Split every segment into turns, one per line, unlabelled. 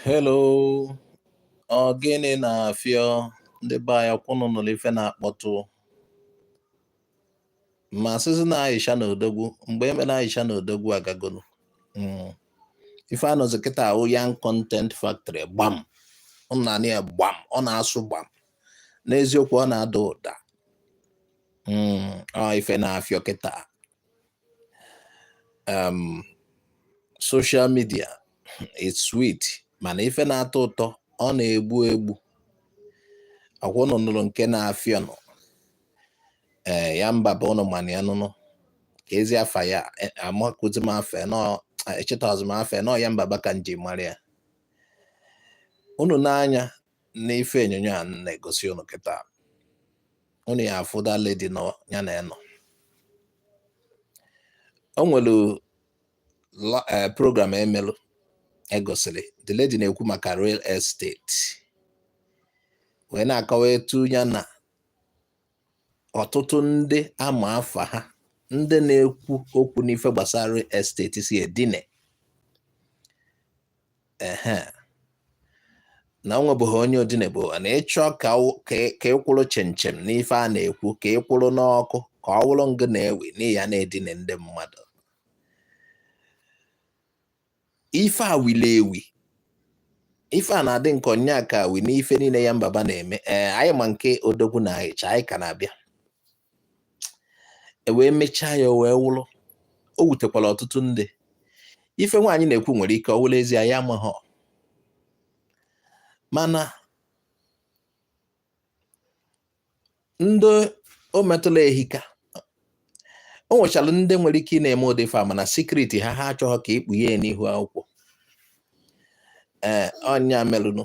Hello, ọ gịnị na-afịọ ndị be anyị ọkwa ụnụ nụrụ ife na-akpọtụ ma asịzị na Aisha na odogwu mgbe emere Aisha na odogwu agagonu hmm. ife anọzi kịta awụ Yan Content Factory gbam ọ na-anị ya gbam ọ na-asụ gbam n'eziokwu ọ na-ada ụda Mm, ọ ife na-afịọ kịta um, social media it's sweet mana ife na-atọ ụtọ ọ na-egbu egbu ọkwa ụnụ nụrụ nke na-afịọ nụ ee Yanbaba ụnụ mana ya nụnụ ka ezi afa ya e- amakụzi m afa nọ echetazị m afa nọ Yanbaba ka n ji mara ya ụnụ n'anya n'ife onyonyo a na-egosi ụnụ kịta ụnụ ya-afụ that lady nọ ya na ya nọ o nwere eh, program emelụ egosiri the lady na-ekwu maka real estate wee na-akọwa etu ya na ọtụtụ ndị ama afa ha ndị na-ekwu okwu n'ife gbasara real estate si edine ehe na o nwebeghị onye o dinebo na ị chọọ ka ọ- ka ị- ka ị kwụrụ chịm chịm n'ife a na-ekwu ka ị kwụrụ n'ọkụ ka ọ wụrụ ngị na-ewi na ị ya na-edine ndị mmadụ ife a wili ewi ife a na-adị nke ọ nya ka wi n'ife niile Yanbaba na-eme ee anyị ma nke odogwu na Aisha anyị ka na-abịa e wee mechaa ya o wee wụrụ o wutekwara ọtụtụ ndị ife nwaanyị na-ekwu nwere ike ọ wụrụ ezie anyị amaghọ mana ndị o metụla ehika o nwechara ndị nwere ike ị na-eme ụdị ife a mana secret ha ha achọghọ ka ikpughe ya n'ihu akwụkwọ ee ọ nya melụnụ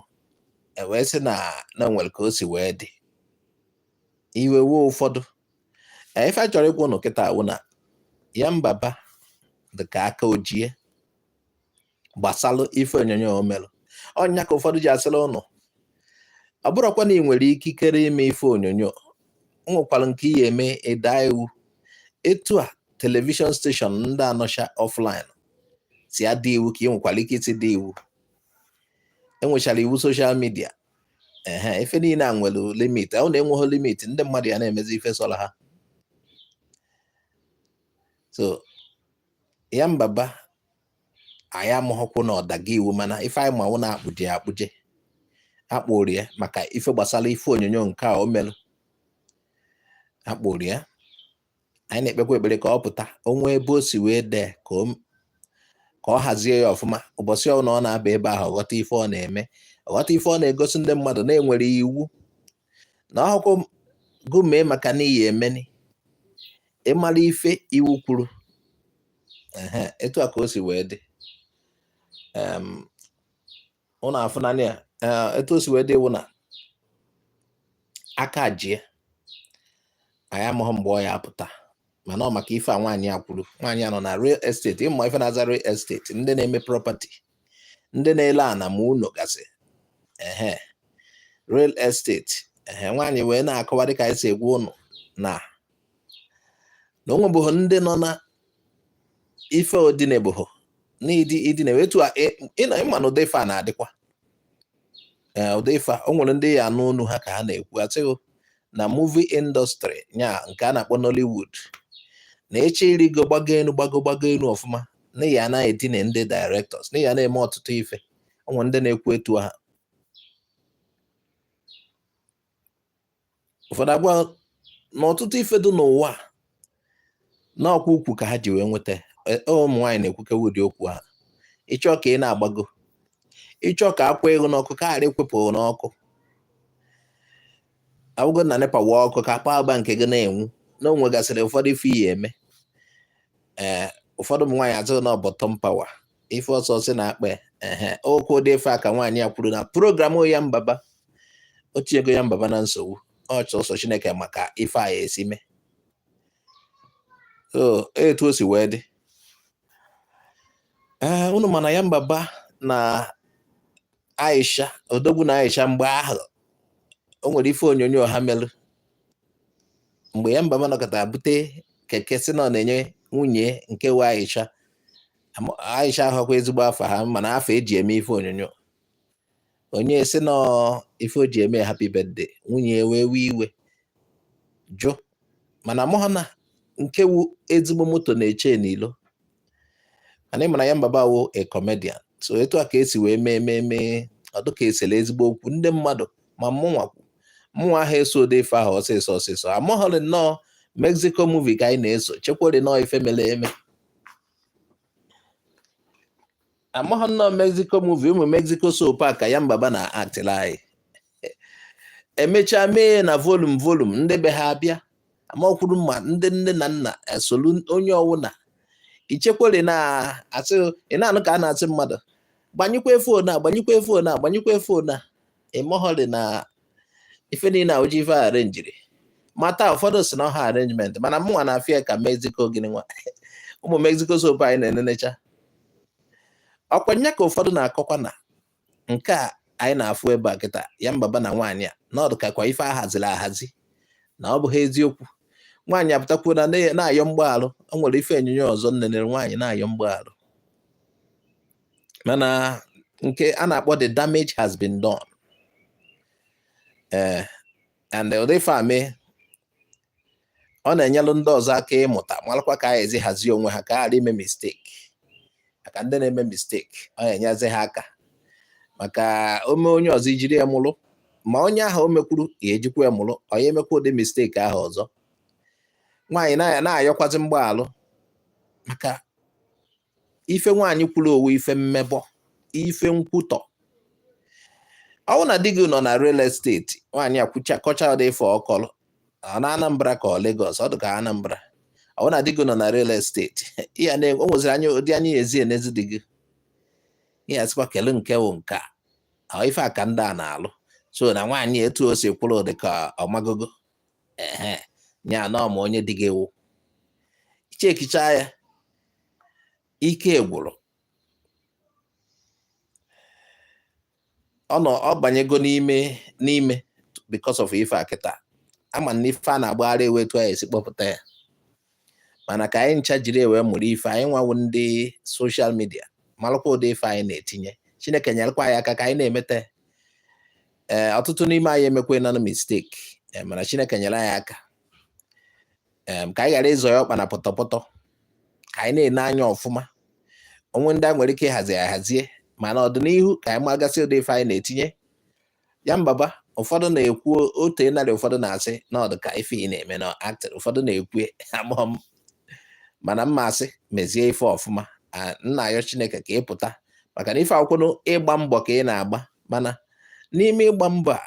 e wee sị na na o nwere ka o si wee dị iwe wee ụfọdụ ife a chọrọ ịgwa ụnụ kịta awụ na Yanbaba dịka aka ojie gbasalụ ife onyonyo o melụ ọ nya ka ụfọdụ ji asịla ụnụ ọ bụrụkwa na ị nwere ikikere ime ife onyonyo nwekwara nke ị ya-eme ị daa iwu etu a television station ndị a nọcha offline si ada iwu ka ị nwekwara ike isi daa iwu enwechara iwu social media ehe ife niile a nwere limit awụ na enweghị limit ndị mmadụ ya na-emezi ife sọrọ ha so Yanbaba anyị amaghọkwụ na ọ daga iwu mana ife anyị ma wụ na-akpụje akpụje akpụrụ ya maka ife gbasara ife onyonyo nke a o merụ akpụrụ ya anyị na-ekpekwa ekpere ka ọ pụta o nwee ebe o si wee dee ka ọ hazie ya ọfụma ụbọchị ọbụla ọ na-aba ebe ahụ ọ ghọta ife ọ na-eme ọ ghọta ife ọ na-egosi ndị mmadụ na e nwere iwu na ọhụkụ gụmee maka n'iyi emeni ịmara ife iwu kwuru etu a ka o si wee dị ụnụ afụna ya eh, etu o si wee dị wụ na aka jie anyị amaghị mgbe ọ ya-apụta mana ọ maka ife a nwaanyị a kwuru nwaanyị a nọ na real estate ị ma ife na-aza real estate ndị na-eme property ndị na-ele ana ma ụlọ gasị ehe real estate ehe nwaanyị wee na-akọwa dịka anyị si agwa ụnụ na na o nwebeghị ndị nọ na ife o dinebeghị na ụdị idine etu a ịnọ ị ma na ụdị ife a na-adịkwa ụdị ife a o nwere ndị ị ya-anụ olu ha ka ha na-ekwu asị gị na movie industry nya nke a na-akpọ Nollywood na ịchọ irigo gbago enu gbago gbago enu ọfụma na ị ya na-edine ndị directors na ị ya na-eme ọtụtụ ife o nwere ndị na-ekwu etu ha ụfọdụ agwa na ọtụtụ ife dị n'ụwa na ọ kwa ukwu ka ha ji wee nweta e, e, ụmụ nwaanyị na-ekwukwa ụdị okwu a ịchọ ka ị na-agbago ịchọ ka akwa gị n'ọkụ ka a ghara ikwepụ n'ọkụ awụgo na NEPA wa ọkụ ka akpa agba nke gị na-enwu na o nwegasịrị ụfọdụ ife iyi eme ee eh, ụfọdụ ụmụ nwaanyị asị gị na ọ bottom power ife ọsọ sị na akpa ehe ọ kwa ụdị ife a ka nwaanyị a kwuru na program Yan Baba o tinyego Yan Baba na nsogbu ọ sọọsọ Chineke ma ka ife a ya-esi mee etu o si wee dị ee unu ma na Yan Baba na Aisha odogwu na Aisha mgbe ahụ o nwere ife onyonyo ha melụ mgbe Yan Baba nọkata bute keke sị na ọ na-enye nwunye nke wụ Aisha Aisha awụkwa ezigbo afa ha mana afa e ji eme ife onyonyo o nye e sị na ife o ji eme happy birthday nwunye wee wee iwe jụ mana amaghị na nke wụ ezigbo moto na-eche n'ilo mana ị ma na Yan Baba wụ a comedian so etu a ka e si wee mee mee mee ọ dị ka e sere ezigbo okwu ndị mmadụ ma mụnwa mụnwa ahụ eso ụdị ife ahụ ọsịsọ ọsịsọ amụghọrị na ọ Mexico movie ka anyị na-eso chekwere na ọ ife mere eme amaghị na ọ Mexico movie ụmụ Mexico soap a ka Yan Baba na-actịla anyị emechaa mee na volum volum ndị be ha abịa amakwuru ma ndị nne na nna esolu onye ọwụna ichekwere na asị ị na-anụ ka a na-asị mmadụ gbanyekwa fon a gbanyekwa fon a gbanyekwa fon a ịmụhọrị na ife niile a wụzi ife arenjiri mata ụfọdụ sị na ọ wụ arrangement mana mụnwa na-afụ ya ka mexico gịnị nwa ụmụ mexico soap anyị na-enenecha ọkwa nya ka ụfọdụ na-akọkwa na nke a anyị na-afụ ebe a kịta Yanbaba na nwaanyị a na ọ dụ kakwa ife ahaziri ahazi na ọ bụghị eziokwu nwaanyị apụtakwuona na-ayọ mgbaalụ o nwere ife onyonyo ọzọ m nenere nwaanyị na-ayọ mgbaalụ mana nke a na-akpọ the damage has been done ee eh, and ụdị ife a mee ọ na-enyelụ ndị ọzọ aka ịmụta malụkwa ka a ezi hazie onwe ha ka ha ghara ime mistake maka ndị na-eme mistake ọ na-enyezi ha aka maka o mee onye ọzọ e jiri ya mụrụ ma onye ahụ o mekwuru ya ejikwa ya mụrụ onye emekwa ụdị mistake ahụ ọzọ nwaanyị na-ayọkwazi mgbaalụ maka ife nwaanyị kwuru ọ wụ ife mmebọ ife nkwutọ ọ wụ na di gị nọ na real estate nwaanyị ekwucha kọcha ụdị ife ọ kọlụ ọ na Anambra ka ọ Lagos ọ dị ka Anambra ọ wụ na di gị nọ na real estate ya na o nweziri anya ụdị anya ya ezi enezi di gị ya sịkwa kele nke wụ nke a ife a ka ndị a na-alụ so na nwaanyị etu o si kwuru dị ka ọ magogo ehe ya na ọ ma onye di gị wụ ị chekicha ya ike gwụrụ ọ nọ ọ banyego n'ime n'ime because of ife a kịta a ma na ife a na-agbagharị wụ etu anyị esi kpọpụta ya mana ka anyị ncha jiri ya wee mụrụ ife anyị nwa wụ ndị social media malụkwa ụdị ife anyị na-etinye chineke nyerekwa anyị aka ka anyị na-emete ee ọtụtụ n'ime anyị emekwaana mistake e, mana chineke nyere anyị aka ka anyị ghara ịzọye ọkpa na pọtọpọtọ ka anyị na-ene anya ọfụma o nwe ndị a nwere ike ịhazi ahazie mana ọdịnihu ka anyị magasị ụdị ife anyị na-etinye Yanbaba ụfọdụ na-ekwu otu narị ụfọdụ na-asị na ọ dụ ka ife ị na-eme na acting ụfọdụ na-ekwu amụọ m mana mma asị mezie ife ọfụma m na-ayọ chineke ka ị pụta maka na ife a wụkwanụ ịgba mbọ ka ị na-agba mana n'ime ịgba mbọ a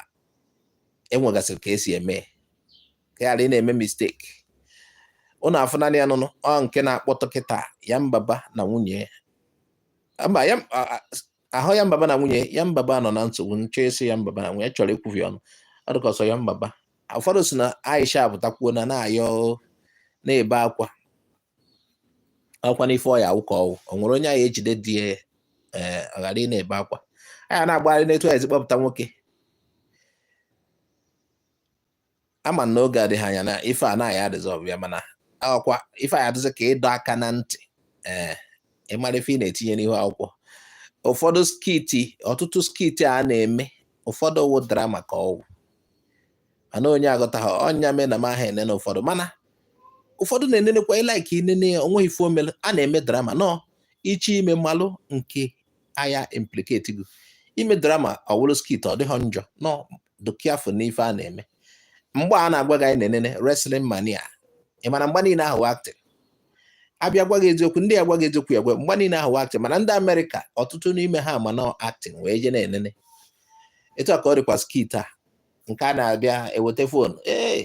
e nwegasịrị ka esi eme ka ghara ị na-eme mistake ụnụ afụna ya nụnụ ọ nke na-akpọtụ kịta Yanbaba na nwunye ya ahụ Yanbaba na nwunye Yanbaba nọ na nsogbu m chọ ịsị Yanbaba na nwunye chọrọ ikwuvi ọnụ ọ dị ka ọ sọ Yanbaba ụfọdụ sị na Aisha apụtakwuona na-ayọ na-ebe akwa akwa n'ife ọ ya-awụ ka ọ wụ o nwere onye a ya-ejide di ya eh, ọ ghara ị na-ebe akwa a ya na-agbagharị n'etu a ezi kpọpụta nwoke ama m na oge adịghị anya na ife a na a ya-adissolve ya mana ọ kwa ife a ya-adịzị ka ịdọ aka na ntị ee eh, ịmara ife ị na-etinye n'ihu akwụkwọ ụfọdụ skiti ọtụtụ skiti a na-eme ụfọdụ wụ drama ka ọ wụ mana onye aghọtaghị ọ nya mee na m aha enene ụfọdụ mana ụfọdụ na-enenekwa ị like inene ya o nweghị ife o melu a na-eme drama nọ iche ime malụ nke a ya-implicate gị i mee drama ọ wụrụ skit ọ dịghị njọ nọ dị careful n'ife a na-eme mgba a na-agba anyị na-enene wrestling mania ị ma na mgba niile ahụ wụ acting a bịa gwa gị eziokwu ndị agwa gị eziokwu ya gwa mgba niile ahụ wụ acting mana ndị amerịka ọtụtụ n'ime ha ma na acting wee je na-enene etu a ka ọ dịkwa skit a nke a na-abịa eweta fon ee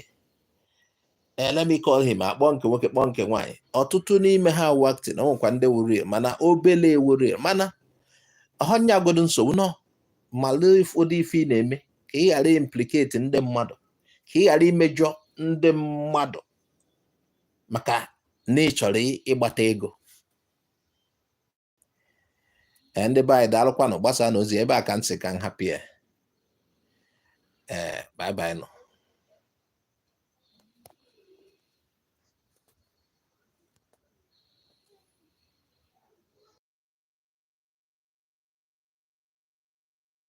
Eh, let me call him a kpọọ nke nwoke kpọọ nke nwaanyị ọtụtụ n'ime ha wụ acting o nwekwa ndị wụ real mana obele wụ real mana ọ họ nya godu nsogbu nọ malụ ụdị ife ị na-eme ka ị ghara implicate ndị mmadụ ka ị ghara imejọ ndị mmadụ maka na ị chọrọ ịgbata ego ee ndị be anyị daalụkwanụ gbasaanụ ozi a ebe a ka m sị ka m hapụ ya ee bye bye nụ